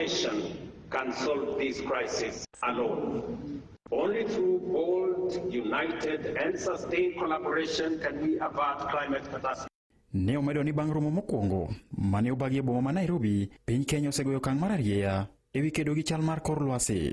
nation can solve this crisis alone. Only through bold, united, and sustained collaboration can we avert climate catastrophe. Ne omedo ni bang' romo mokwongo mane obagi e boma ma Nairobi, piny Kenya osegoyo okang' mar arieya ewi kedo gi chal mar kor lwasi.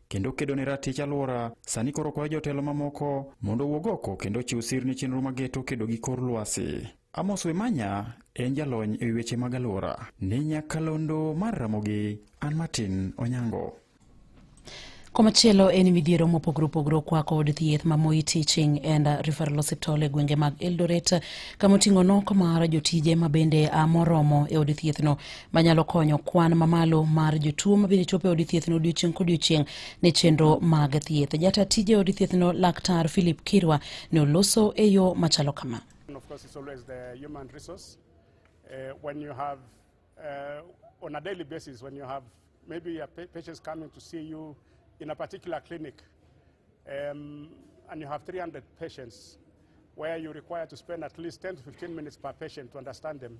kendo kedo ne ratich alwora sani koro kwayo jotelo mamoko mondo owuog oko kendo ochiw sir ne chenro mageto kedo gi kor lwasi. Amos Wemanya en jalony e weche mag alwora. Ne nyakalondo mar Ramogi, an Martin Onyango. Komachielo en midhiero mopogore opogore okwako od thieth ma Moi Teaching and Referral Hospital e gwenge mag Eldoret kama oting'o nok mar jotije ma bende a moromo e od thiethno manyalo konyo kwan mamalo mar jotuo mabende chopo e od thiethno odiochieng' kodiochieng' ne chenro mag thieth jata tije od thiethno laktar philip kirwa ne oloso e yo machalo kama of course, it's always the human resource. Uh, when you have, uh, on a daily basis, when you have maybe a pa patients coming to see you in a particular clinic, um, and you have 300 patients, where you require to spend at least 10 to 15 minutes per patient to understand them,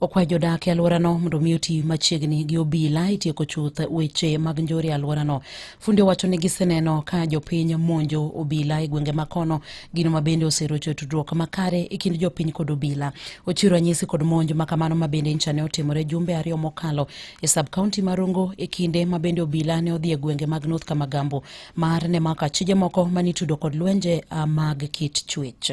okwayo jodak e alworano mondo mi oti machiegni gi obila itieko chuth weche mag njore e alworano. Fundi owacho ni giseneno ka jopiny monjo obila e gwenge makono, gino ma bende oserocho tudruok makare e kind jopiny kod obila. Ochiwo ranyisi kod monj ma kamano ma bende ncha ne otimore jumbe ariyo mokalo e sub kaunti ma Rongo e kinde ma bende obila ne odhi e gwenge mag North Kamagambo mar ne mako achije moko manitudo kod lwenje ah, mag kit chuech.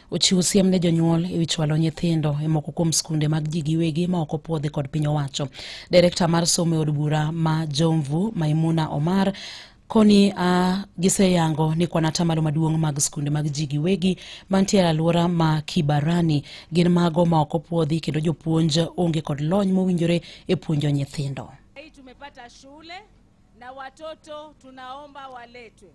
Ochiwo siem ne jonyuol e wi chwalo nyithindo e moko kuom skunde mag ji giwegi ma ok opuodhi kod piny owacho. Direkta mar somo e od bura ma Jomvu, Maimuna Omar, koni uh, giseyango ni kwan atamalo maduong' mag skunde mag ji giwegi mantiere alwora ma Kibarani gin mago ma ok opuodhi kendo jopuonj onge kod lony mowinjore e puonjo nyithindo. Hii tumepata shule na watoto tunaomba waletwe.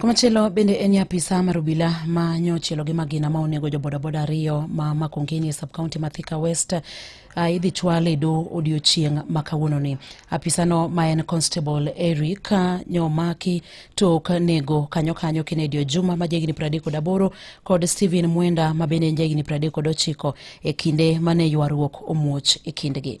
Komachielo bende en ni apisa mar obila ma nyochielo gi magina ma onego jo bodaboda ariyo ma Makongeni e subkaunti ma Thika West uh, idhi chwal e do odiochieng' ma kawuononi. Apisano ma en Constable Eric uh, nyomaki tok nego kanyo kanyo Kennedy Ojuma ma jahigni pradek kod aboro kod Stephen Mwenda ma bende en jahigni pradek kod ochiko e kinde mane ywaruok omuoch e kindgi.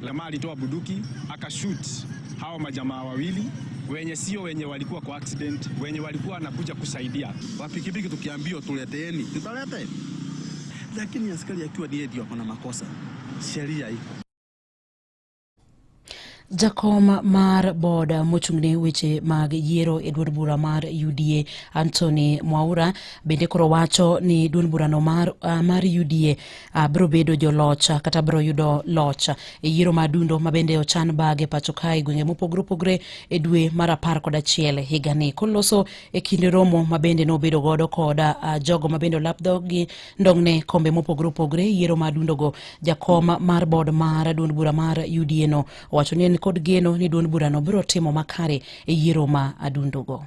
Jamaa alitoa buduki akashoot hawa majamaa wawili wenye sio wenye walikuwa kwa accident, wenye walikuwa wanakuja kusaidia. Wapikipiki tukiambiwa tuleteeni, tutalete, lakini askari akiwa ndiye ndio kuna makosa, sheria iko Jakom mar bod mochung'ne weche mag yiero e duond bura mar UDA Anthony Mwaura bende koro wacho ni duond burano mar, uh, mar UDA uh, biro bedo joloch ah, kata biro yudo loch ah, e yiero ma dundo ma bende ochan bag e pacho kae gwenge mopogore opogore e dwe mar apar kod achiel higani koloso e kinde romo ma bende nobedo godo kod uh, jogo ma bende olap dhogi ndong'ne kombe mopogore opogore e yiero ma dundogo jakom mar bod mar duond bura mar UDA no owacho ni en kod geno ni duond burano biro timo makare e yiero ma adundogo.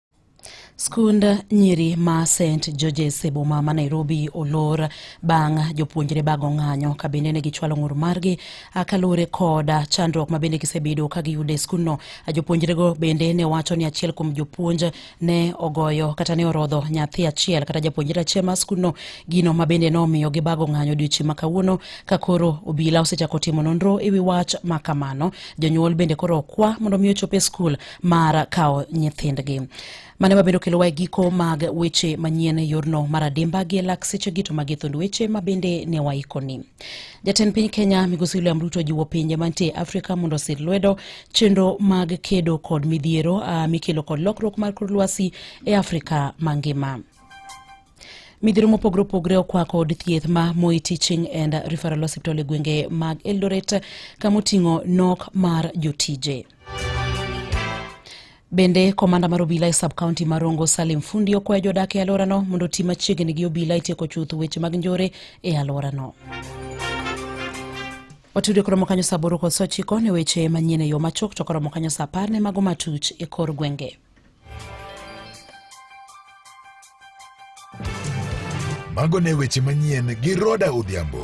Skund nyiri ma St Georges e boma ma Nairobi olor bang' jopuonjre bago ng'anyo ka bende ne gichwalo ng'ur margi kaluwore kod chandruok ma bende gisebedo ka giyudo e skundno. Jopuonjrego bende ne wacho ni achiel kuom jopuonj ne ogoyo kata ne orodho nyathi achiel kata japuonjre achiel mar skundno, gino ma bende nomiyo gibago ng'anyo odiochieng' ma kawuono ka koro obila osechako timo nonro e wi wach ma kamano. Jonyuol bende koro okwa mondo mi ochop e skul mar kawo nyithindgi mane mabiro kelowa e giko mag weche manyien e yorno mar adimba gi elak sechegi to magi thund weche ma bende ne waikoni jatend piny kenya migosi william ruto jiwo pinje mantie afrika mondo osir lwedo chenro mag kedo kod midhiero uh, mikelo kod lokruok mar kor lwasi e afrika mangima midhiro mopogore opogore okwako od thieth ma Moi Teaching and Referral Hospital e gwenge mag Eldoret kama oting'o nok mar jotije. Bende komanda mar obila e sub county mar Rongo Salim Fundi okwayo jodak e alworano mondo oti machiegni gi obila itieko chuth weche mag njore e alworano. Watudo koromo kanyo saa aboro kod saa ochiko ne weche manyien e yo machuok to koromo kanyo saa apar ne mago matuch e kor gwenge. Mago ne weche manyien gi Roda Odhiambo.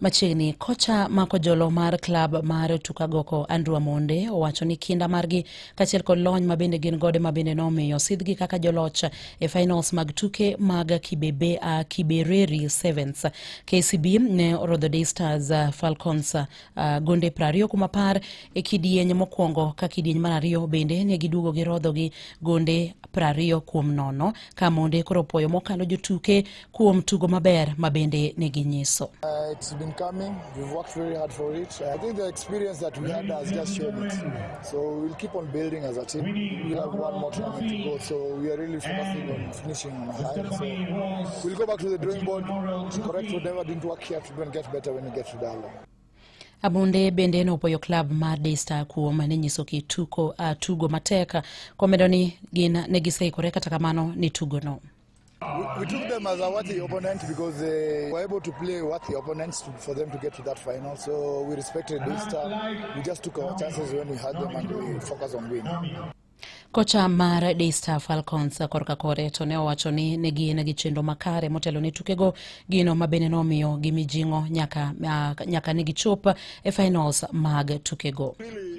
Machiegni kocha mako jolo mar klab mar Tukagoko Andrew Amonde owacho ni kinda margi kachiel kod lony ma bende gin gode ma bende nomiyo sidhgi kaka joloch e finals mag tuke mag Kibebe, uh, Kibereri Sevens. KCB ne orodho Day Stars uh, Falcons uh, gonde prariyo kuom apar e kidieny mokwongo ka kidieny mar ariyo bende ne giduogo gi rodho gi gonde prariyo kuom nono ka Amonde koro opoyo mokalo jotuke kuom tugo maber ma bende ne ginyiso. Uh, Abunde bende nopuoyo klab mar Daystar kuom ne nyiso kituko uh, tugo matek komedo ni gin ne giseikore kata kamano ni tugono. We took them as a worthy opponent because they were able to play worthy opponents to, for them to get to that final. So we respected this time. We just took our chances when we had them and we focused on winning. Kocha mar Daystar Falcons korka kore to ne owacho ni ne gin gi chenro makare motelo ne tukego gino ma bende nomiyo gi mijing'o nyaka, nyaka ne gichop e finals mag tukego. Really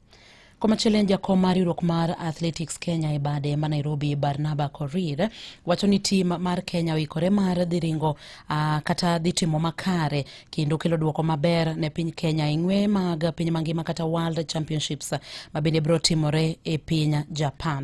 Komachielo en jakom mar riwruok mar Athletics Kenya e bade ma Nairobi Barnaba Korir wacho ni tim mar Kenya oikore mar dhi ringo uh, kata dhi timo makare kendo kelo duoko maber ne piny Kenya e ng'we mag piny mangima kata World Championships ma bende biro timore e piny Japan.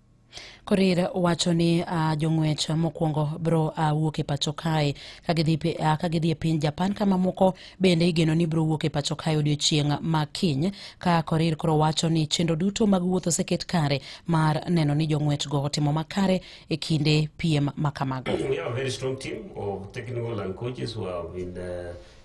Korir wacho ni uh, jong'wech mokwongo bro uh, wuok e pacho kae ka gidhi uh, ka gidhi e piny Japan ka mamoko bende igeno ni bro wuok e pacho kae odiochieng' ma kiny ka Korir koro wacho ni chenro duto mag wuoth oseket kare mar neno ni jong'wech go otimo makare e kinde piem ma kamago.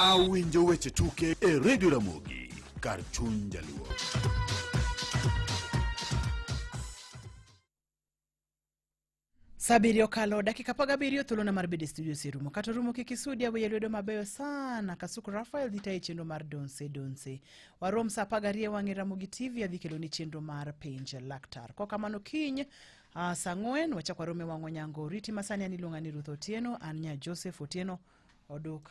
Awinjo weche tuke e redio Ramogi kar chuny jaluo. Saa abiriyo okalo dakika apar gabiriyo thuolona mar bedo e studio oserumo kata orumo kik isudi aweye lwedo mabeyo sana kasuku rafael dhi tayo chenro mar donse donse warom saa apar gariyo wang'e ramogi tv adhi keloni chenro mar penj laktar kokamano kiny Uh, saa ang'wen wachak warome wang' onyango oriti masani an iluonga ni ruth otieno an nya joseph otieno oduk